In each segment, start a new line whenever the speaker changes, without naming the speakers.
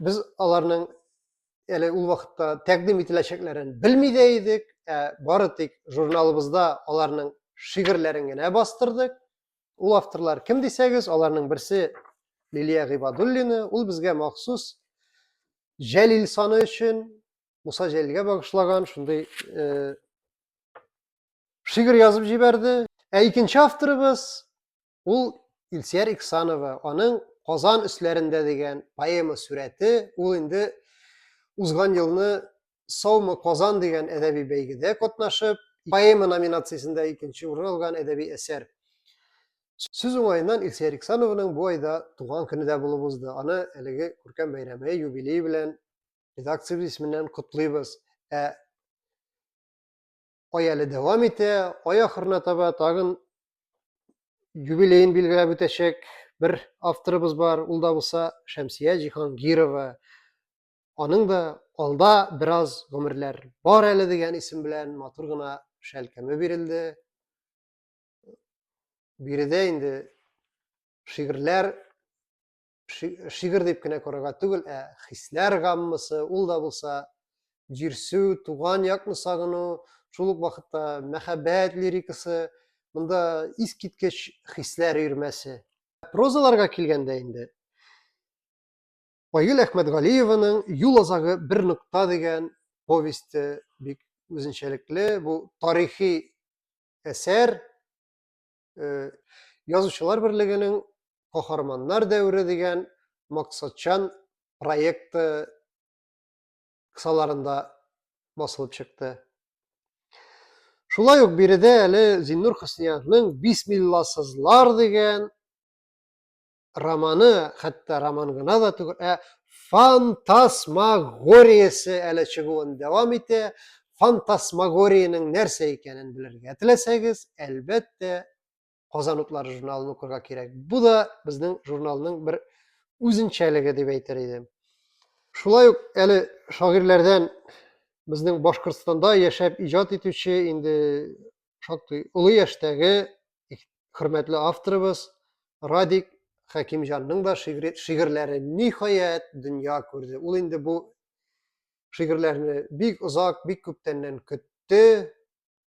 Без аларның әле ул вакытта тәкъдим ителәчәкләрен белми дә идек, ә бары тик журналыбызда аларның шигырьләрен генә бастырдык. Ул авторлар кем дисәгез, аларның берсе Лилия Гыйбадуллина, ул безгә махсус Җәлил саны өчен Муса Җәлилгә багышлаган шундый э, шигырь язып җибәрде. Ә икенче авторыбыз Ул Илсияр Иксанова, аның Казан өсләрендә дигән поэма сүрәте, ул инде узган елны Саумы Казан дигән әдәби бәйгедә катнашып, поэма номинациясендә икенче урын алган әдәби әсәр. Сүз уңаеннан Илсияр Иксановның бу айда туган көне дә булып узды. Аны әлеге күркәм бәйрәме юбилей белән редакциябез исеменнән котлыйбыз. Ә ай әле дәвам итә, ай ахырына таба тагын юбилеен билгеләп үтәчәк бер авторыбыз бар, ул да булса Шәмсия Җиһангирова. Аның да алда бераз гомерләр бар әле дигән исем белән матур гына шәлкәме бирелде. Биредә инде шигырьләр шигырь дип кенә карарга түгел, ә хисләр гаммасы, ул да булса җирсү, туган якны сагыну, шул ук вакытта мәхәббәт лирикасы, монда искиткеч хисләр өермәсе. Прозаларга килгәндә инде Айгөл Әхмәтгалиеваның Юл азагы бер нокта дигән повесте бик үзенчәлекле. Бу тарихи әсәр, э, Язучылар берлегенең Каһарманнар дәвре дигән максатчан проекты кысаларында басылып чыкты. Шулай ук биредә әле Зиннур Хөсниязның Бисмилласызлар дигән романы, хәтта роман гына да түгел, ә фантасмагориясе әле чыгуын дәвам итә. Фантасмагориянең нәрсә икәнен белергә теләсәгез, әлбәттә, Казан утлары журналын укырга кирәк. Бу да безнең журналның бер үзенчәлеге дип әйтер идем. Шулай ук әле шагыйрьләрдән безнең Башкортстанда яшәп иҗат итүче инде шактый олы яшьтәге хөрмәтле авторыбыз Радик Хәкимҗанның да шигырьләре ниһаять дөнья күрде. Ул инде бу шигырьләрне бик озак, бик күптәннән көтте.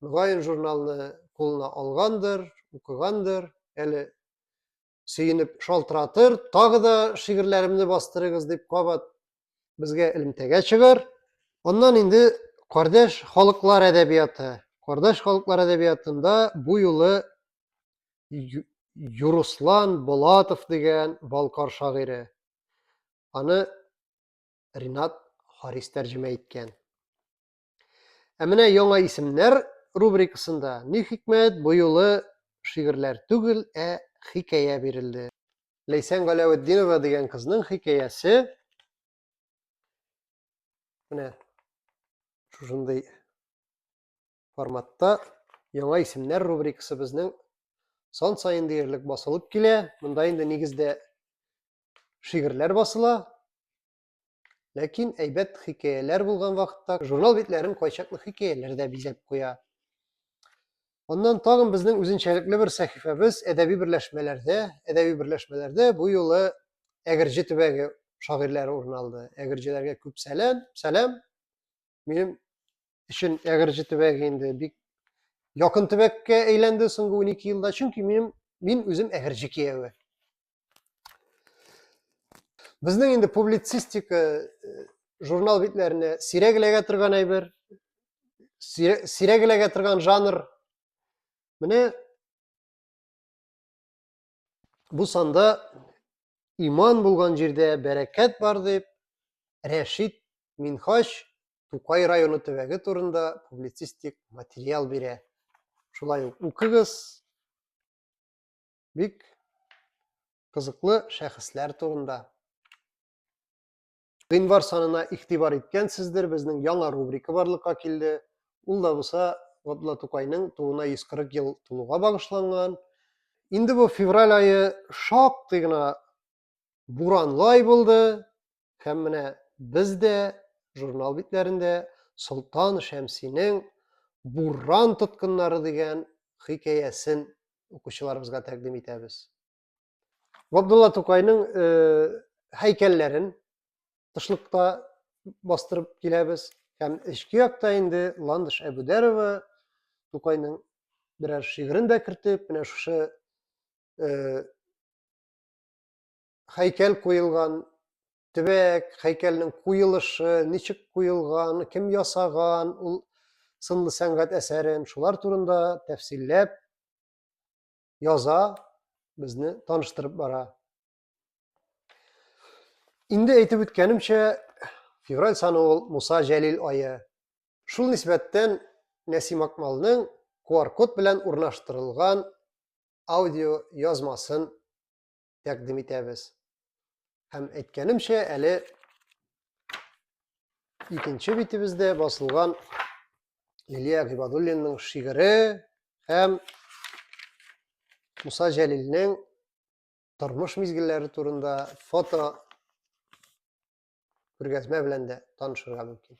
Мөгаен журналны кулына алгандыр, укыгандыр. Әле сөенеп шалтыратыр, тагы да шигырьләремне бастырыгыз дип кабат безгә элемтәгә чыгар. Аннан инде кардәш халыклар әдәбияты. Кардәш халыклар әдәбиятында бу юлы Юруслан Болатов дигән Балкар шагыйре. Аны Ринат Харис тәрҗемә иткән. Ә менә яңа исемнәр рубрикасында ни хикмәт бу юлы шигырьләр түгел, ә хикәя бирелде. Ләйсән Галәветдинова дигән кызның хикәясе менә шушындый форматта яңа исемнәр рубрикасы безнең сан саен диярлек басылып килә. Монда инде нигездә шигырьләр басыла. Ләкин әйбәт хикәяләр булган вакытта журнал битләрен кайчакны хикәяләр дә бизәп куя. Аннан тагын безнең үзенчәлекле бер сәхифәбез әдәби берләшмәләрдә, әдәби берләшмәләрдә бу юлы Әгерҗе төбәге шагыйрьләре урын алды. Әгерҗеләргә күп сәлам, сәлам. Минем өчен Әгерҗе төбәге инде бик якын төбәккә әйләнде соңгы 12 елда, чөнки минем мин үзем Әгерҗе кияве. Безнең инде публицистика э, журнал битләренә сирәк эләгә торган әйбер, сирәк эләгә торган жанр. Менә бу санда иман булган җирдә бәрәкәт бар дип Рәшид Минхач Тукай районы төбәге турында публицистик материал бирә. Шулай ук укыгыз, бик кызыклы шәхесләр турында. Гыйнвар санына игътибар иткәнсездер, безнең яңа рубрика барлыкка килде. Ул да булса Габдулла Тукайның тууына 140 ел тулуга багышланган. Инде бу февраль айы шактый гына буранлай булды һәм менә без дә журнал битләрендә Солтан Шәмсинең Буран тоткыннары дигән хикәясен укучыларыбызга тәкъдим итәбез. Габдулла Тукайның э, һәйкәлләрен тышлыкта бастырып киләбез һәм эчке якта инде Ландыш Әбүдәрова Тукайның берәр шигырен дә кертеп, менә шушы э, хәйкәл куелган, төбәк, хәйкәлнең куелышы, ничек куелган, кем ясаган ул сынлы сәнгать әсәрен, шулар турында тәфсилләп яза, безне таныштырып бара. Инде әйтеп үткәнемчә, февраль саны ул Муса Җәлил айы. Шул нисбәттән Нәсим Акмалның QR-код белән урнаштырылган аудио язмасын тәкъдим итәбез. Һәм әйткәнемчә, әле икенче битебездә басылган Лилия Гыйбадуллинның шигыре һәм Муса Җәлилнең тормыш мизгелләре турында фото күргәзмә белән дә танышырга мөмкин.